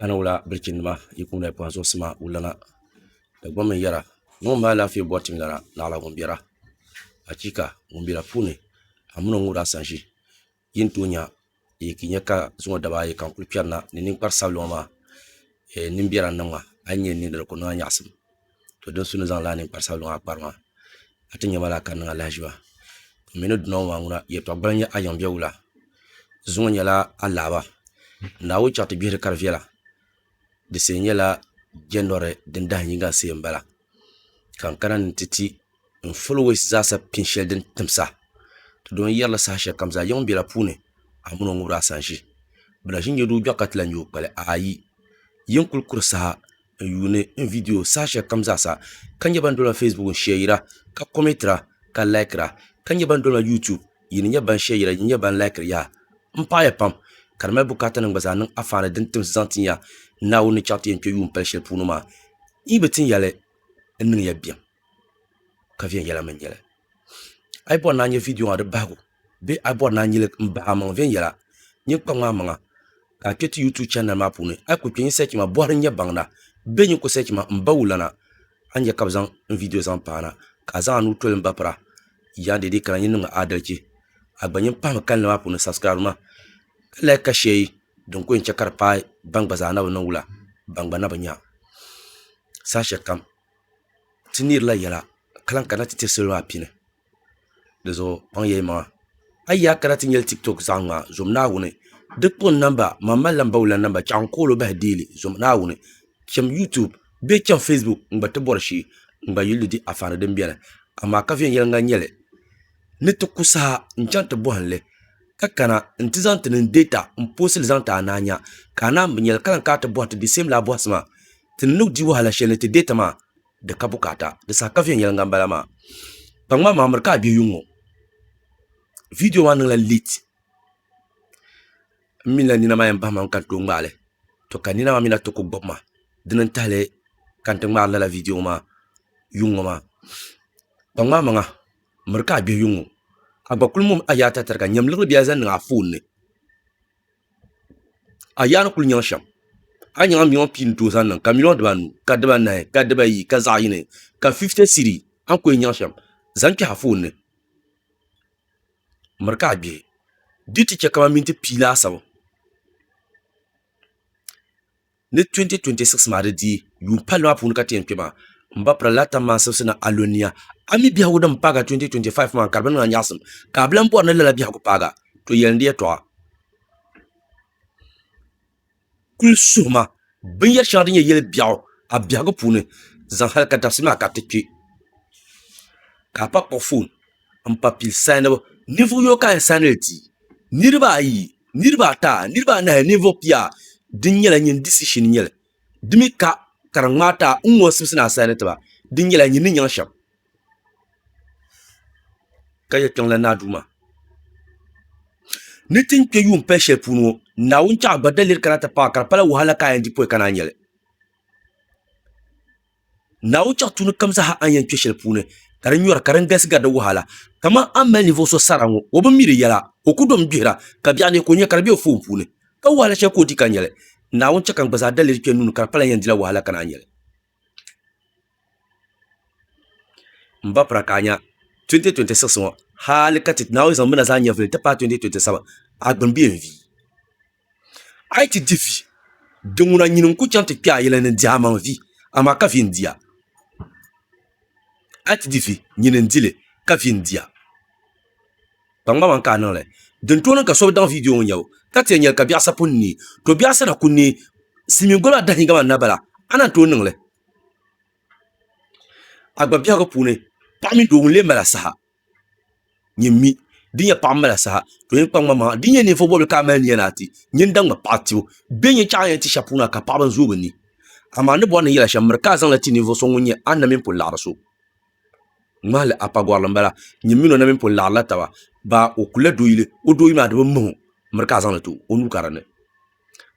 a ni wula bilichini nima yi kuni la kpanzuɣu sima wulana Dagbamb ni yɛra ŋɔ ŋun mali alaafee bɔri tim lara naɣila ŋun bɛra achiika! Ŋun bɛ la puuni a mini o ŋɔ daa san ʒi yi ni tooi nya yi ki nya ka zuŋɔ daba ayi ka n kuli kpɛri na ni ninkpari sabila ŋɔ maa nimbɛra n niŋ ma a yi nya yi ni niŋ dini ka o niŋ a nyaɣisim. to din su ni zaŋ lala ninkpari sabinli maa kpari maa a ti nyɛ ma laa ka di niŋ a lahaʒiba n mii ni duna ŋɔ maa ŋuna yɛltɔɣa gbaliŋ nyɛ a yiŋ bɛ wula zuŋɔ zuŋɔ nyɛla a laɣaba naawuni chaŋ ti gbihiri ka di viɛla di shee nyɛla jɛnɔri din dahin yinga n shee n bala ka n kana ni n ti ti n fulowɛs zaasa pini shɛli din timsa ti doo n yɛrila saha shɛli kam zaa yiŋ biɛla puuni a mini o ŋubiraasan ʒi bi lahi ʒi nyɛ duu gbiɣu ka ti lahi nyɛ o kpali aayi yin kuli kuri saha n yuuni n viidiyo saha shɛli kam zaa sa ka nyɛ ban dolima feesbuk n shɛyira ka kɔmɛtira ka laikira ka nyɛ ban dolima yuutub yi ni nyɛ ban shɛyira yi ni nyɛ ban laikiri yaha n paɣiya pam ka di mali bukaatanim gba zaa niŋ afaani din timsi zaŋ ti ya Naawuni ni chaŋ ti yɛn kpe yuun pali shɛli puuni maa yi bi tin yɛli n niŋya bɛm ka viɛnyɛla mi n-nyɛ li a yi bɔri ni a nya viidiyo maa di bahigu Bee a bɔri ni a nyili m bahi a maŋa viɛnyɛla? Nyin kpa ŋmaai maŋa ka a kpe ti YouTube channel maa puuni. A yi kuli kpe nyin search ma bɔhiri n-nyɛ baŋda. Bee nyin kuli search ma m ba wulana, a ni nya ka bɛ zaŋ n video zaŋ paana ka a zaŋ a nuu toli m ba pira. Yaa deedee kana nyin niŋmi aadalichi. A gba nyin pahimi kalinli maa puuni subscribe ma ka like ka share yi din kuli yɛn che ka di paai ban gba zaa na bi niŋ wula ban gba na bi nya. Saha shɛlikam ti neerila yɛla ka lahi kana ti tiri salo maa pini. dizuɣu kpaŋ ya yimaŋa a yi yaa kana ti nyɛli tiktok zaa ŋa zom Naawuni di kpuɣi namba man malila m ba wula namba chɛɣu n kool o bahi deeli zom Naawuni chem yutub bee chem facebook n gba ti bɔri shee n gba yuli di anfaani din beni amaa ka viɛnyɛliŋga n nyɛli ni ti ku saha n chaŋ ti bɔhim li ka kana n ti zaŋ ti niŋ data n poosi li zaŋ ti a ni a nya ka a naan bi nyɛli ka lahi kana ti bɔhiti di same laa bɔhisi maa ti ni ni di wahala shɛli ni ti data maa di ka bukaata di saha ka viɛnyɛliŋga n bala maa kpaŋmaŋ maa miri ka a bɛ yuŋ ŋo viidiyo maa niŋla leet n mila nina maa yɛn bahi maŋ ka n tooi ŋmaali to ka nina maa mii na ti ku gbubi ma dini n tahali ka n ti ŋmaari lala viidiyo ŋo maa yuŋ ŋo maa kpaŋmaŋ maŋa miri ka a bihi yuŋ ŋo a gba kuli mumi a yaata tariga nyɛm liɣiri bili zaŋ niŋ a foon ni a yaa ni kuli nyaŋ shɛm a ni nyaŋ miliyon pia ni tooi zaŋ niŋ ka miliyon dibanu ka dibanahi ka dibayi ka zaɣ yini ka fifiti siri a ni ku yɛn nyaŋ shɛm zaŋ kpɛhi a foon ni miri ka a gbihi di yi ti chɛ kamani minti pia laasabu Ni 2026 maa di dii yuun palli maa puuni ka ti yɛn kpe maa, m ba pirila Latin mansibisi ni a lo nia, a mi biɛhigu din paagi a 2025 maa n kari bini ŋɔ a nyaɣisim, ka a bi lan bɔri ni lala biɛhigu paagi a, to yɛli n di yɛtɔɣa. Kul suhi ma binyɛri shɛŋa din nyɛ yɛli biɛɣu a biɛhigu puuni zaŋ hali ka dabisi maa ka ti kpe, ka a pa kpuɣi foon n pa pili saanibu ninvuɣ yino ka a yɛn saani li ti niriba ayi niriba ata niriba anahi ninvuɣ pia di nyɛla nyini disishin n-nyɛ li di mi ka ka di ŋmaai ti a n ŋun simsi ni a saani ti ba di nyɛla nyini ni nyaŋ shɛm ka yɛli kpiɔŋ lan naa Duuma ni ti ni kpe yuun pali shɛli puuni ŋɔ Naawuni chaɣ ba daliri kana ti paai ka di pala wahala ka a yɛn di pɔi ka ni a nya li Naawuni chaŋ tuuni kam zaaha a ni yɛn kpe shɛli puuni, ka di nyɔri, ka din galisi gari di wahala. Kaman a ni mali ninvuɣ so sara ŋɔ, o bi mi di yɛla, ka o ku domi gbihira, ka biɛɣu ni ka o nya ka di be o foon puuni. Ka wahala shɛli ka o di ka nya li. Naawuni chɛ ka n gba zaa daliri kpe n nuuni, ka di palan yɛn dila wahala ka naa nya li. M ba pira ka a nya 2026 ŋɔ, hali ka ti Naawuni zaŋ mi na zaa nyɛvili nti paai 2027, a gbini bee n-vi? a yi ti di vi, di ŋuna nyini n-kul chaŋ ti kpe a yɛla ni dihi a maŋ vi, amaa ka vi n-di a. A yi ti di vi, nyini n-di li, ka vi n-di a. Kpaŋmaŋmaŋ ka a niŋ li. Din tooi niŋ ka so bi daŋ viidiyo ŋɔ n-nyɛbu, ka ti yɛn nya li ka biɛɣ sa pun neei. To biɛɣ sana ku neei, silimiin goli maa dahi yi gama n na bala, a ni yɛn tooi niŋ li. A gbaŋ biɛhigu puuni, paɣ mini doo ŋun lee mali a saha, nyin mi di nyɛ paɣa ni mali asahi ka o yɛn kpaŋ ma maŋa di ni nyɛ ninvuɣu bobli ka a mali nia ni a ti nyin daŋ ma paɣa tibbu bɛ ni yɛn chaŋ a ni yɛn ti shɛli puuni maa ka paɣaba zooi bi ni amaa a ni bori ni yɛla shɛm miri ka a zaŋli ti ninvuɣu so ŋun nyɛ a na mini pun laɣari so ŋmahili a pa gɔrili n bala nyin mini o na mini pun laɣarila taba baa o kulila doo yili o doo yili maa di bi mahim miri ka a zaŋli ti o o nuu ka dinni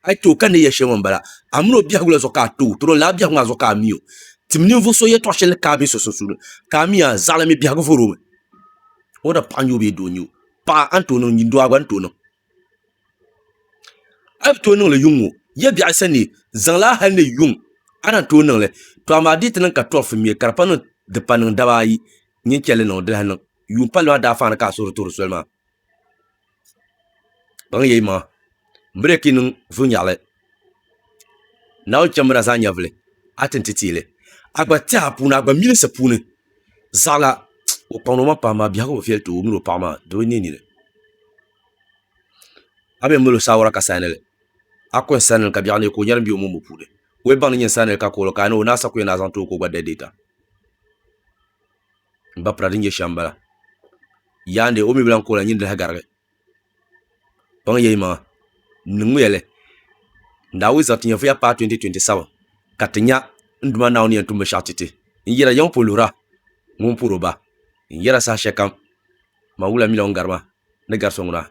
a yi too ka ni yɛ shɛli ŋɔ m-bala, a mini o biɛhigu la zuɣu ka a too, tɔro lala biɛhigu maa zuɣu ka a mi o. Tim ninvuɣ so yɛtɔɣ shɛli ni ka a be so sunsuuni, ka a mi a, zaɣili mi biɛhigu vɔr o mi. Whether paɣa n-nyɛ o bee doo n-nyɛ o, paɣa a ni tooi niŋ, doo a gba ni tooi niŋ. A yi bi tooi niŋ li yuŋ ŋɔ, ya biɛɣu yi sani, zaŋ li a hal ni yuŋ, a lahi tooi niŋ li. Tɔ amaa di yi ti niŋ ka tɔri fimiya, ka di pa niŋ, di pa niŋ daba ayi, nyin chɛ li niŋ, di lahi niŋ. Yuun palli maa daafaani ka a suhiri toori soli maa. kpaŋ ya yimaŋa m bi daa kpi niŋ vulinyaɣili Naawuni cham mi la zaa nyɛvili a ti ni ti teei li a gba tɛha puuni a gba milisi puuni zaɣila o kpaŋdi o maŋa pahi maa biɛhigu bi viɛli ti o o mini o paɣa maa di bi niɛ nini a mi mali o saawara ka saani li a kuli yɛn saani li ka biɛɣuni ka o nyari m-be o mumbu puuni ka o yɛn baŋ ni nyɛ n saani li ka kuɣi li ka a ni o ni a sa ku yɛn ni a zaŋ ti o ka o gba dali deei ta n ba pira din nyɛ shɛm bala yaandi o mii bi lahi kooi lahi nyin di lahagarigi kpaŋ yɛi maŋa n niŋmiya li n daa wii zaa ti nyɛ vuya paai 2027 ka ti nya n Duuma Naawuni ni yɛn tum binshɛɣu ti ti n yɛra yiŋ pun luhira ŋun puhiri o ba n yɛra saha shɛli kam man wula mii la ŋun gari ma ni gari so ŋuna